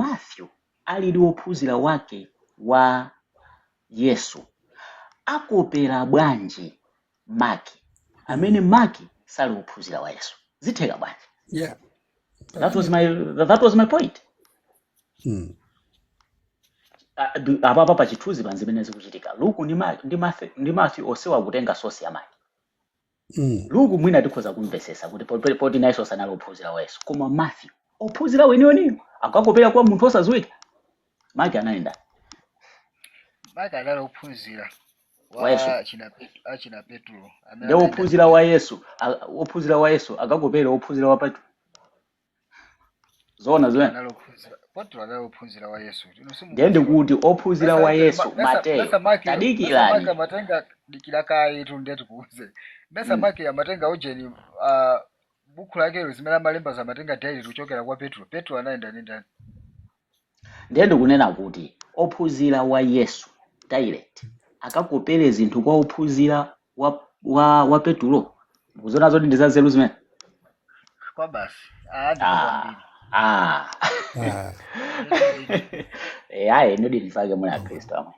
Matthew alili wophunzira wake wa Yesu, akopera bwanji Mark, amene Mark sali wophunzira wa Yesu? Zitheka bwanji? Yeah. That was my, that was my point. Mm. Ah, du- apapa pa chithunzi panzi pamene zikuchitika luku ndi Ma- ndi Mathe- ndi Matthew onsewa akutenga source ya Mark mm. Luke mwina tikhoza kumvesesa kuti po- poti nayenso sanali ophunzira wa Yesu koma Matthew ophunzira weniweniyo akakopera kwa munthu osadziwika Mark anayenda ndani Mark anali ophunzira wa Yesu wa achina Pet- achina Petro amene ndi anayenda ndi ophunzira wa Yesu Yesu a- ophunzira wa Yesu akakopera ophunzira wa Petro zoona zimenezo anali ophunzira petro anali ophunzira wa yesu inu ndiye simukudziwa ndiye kuti ophunzira besa wa ite yesu basi Mateyo basi Maki basi Maki tadikirani amatenga dikira kayetu ndiye tikuuze basi mm. Maki amatenga ujeni uh, buku lakelo zimene amalemba amatenga direct kuchokera kwa petro petro anayenda ndi ndani ndiye ndikunena kuti ophunzira wa yesu direct akakopere zinthu kwa ophunzira wa, wa, wa petulo mukuziona zoti ndi zanzeru zimenezo kwa basi aadzi Ah, kwambiri ah. Ah. zilizidi Eh, ayi ndithu nchifukwa muli akhristu amwene